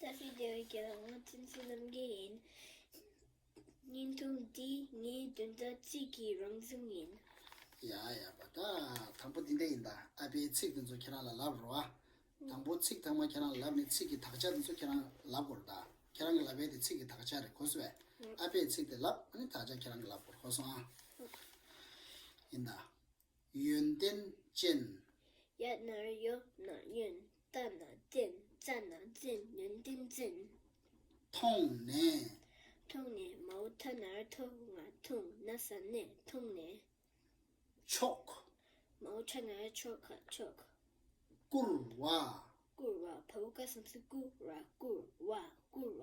ལྟ་བུའི་བདེ་བའི་རྒྱལ་པོ་ཐུན་ཚོད་རྣམ་རྒྱལ་ཡིན། བརྙན་ཐུང་འདི་ངའི་འདོན་ཟླ་གཅིག་གི་རང་བྱུང་ཡིན། ཡ་ཡ་པ་ད། དང་པོ་འདི་འདྲ་ཡིན་ད། ཨ་པའི་ཚིག་དེ་ཚོ་ཁྱེད་རང་ལ་ལབ་རོགས་ཨ། དང་པོ་ཚིག་ཐོག་མ་ཁྱེད་རང་ལ་ལབ་ནས་ཚིག་གི་དག་ཆ་དེ་ཚོ་ཁྱེད་རང་ལབ་དགོས་རེད་ད། ཁྱེད་རང་གི་ལབ་པའི་དེ་ཚིག་གི་དག་ཆ་རེད་གོ་སོས། ཨ་པའི་ཚིག་དེ་ལབ་ཨ་ནི་དག་ཆ་ཁྱེད་རང་གི་ལབ་དགོས་རེད་གོ་སོང་ཨ། ཡིན་ད། ཡོན་ཏན་ཅན། ཡལ་ན་གཡོ་ན་གཡོན་ལྟ་ན་བསྟན་རྩ་ན་རྩེན་ཡོན་ཏན་ཅན། མཐོང་ནས། མཐོང་ནས་མ་འོ་ཐ་ནར་ཐོ་ང་འཐུང་ན་ས་ནས་འཐུང་ནས། ཕྱོགས། མ་འོ་ཕྱག་ན་ཆོ་ག་ཕྱོགས། བསྐུར་བ། བསྐུར་བ་བ་བུ་ག་སམ་སི་བསྐུར་བ་བསྐུར་བ་བསྐུར་བ།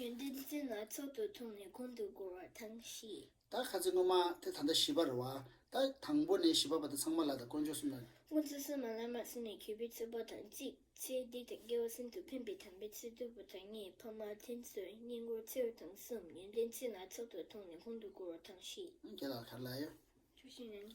ཡོན་ཏན་ཏིང་འཛིན་སྣ་ཚོགས་དུ་མཐོང་ནས་གོང་དུ་བསྐོར་བ་དང་བཞི། ད་ག་ཚོད་སྔོན་མ་དེ་ད་ལྟ་བཞི་པར་རོ། ད་དང་པོ་ནས་བཞི་པ་བར་དུ་ཚང་མ་ལ་དང་དཀོན་མཆོག་གསུམ་ལ། སྔོ་ཚོད་གསུམ་མ་ལ་མ་ཟིན་ནས་གྱོད་པའི་ཚོད་པ་དང་གཅིག། ཚེ་འདི་དང་དགེ་བ་ཟིན་དུ་ཕན་པའི་དམ་པའི་ཚིག་བདུན་པོ་དང་གཉིས་ཕ་མ་མཐུན་ཚོད་སྙིང་བོར་ཚེ་རུ་དང་གསུམ་ཡོན་ཏན་ཚིག་སྣ་ཚོགས་དུ་མཐོང་ནས་གོང་དུ་བསྐོར་བ་དང་བཞི། ཁྱེད་ལ་གར་ལ་ཡོད། ཆོས་བཞིན་ནི།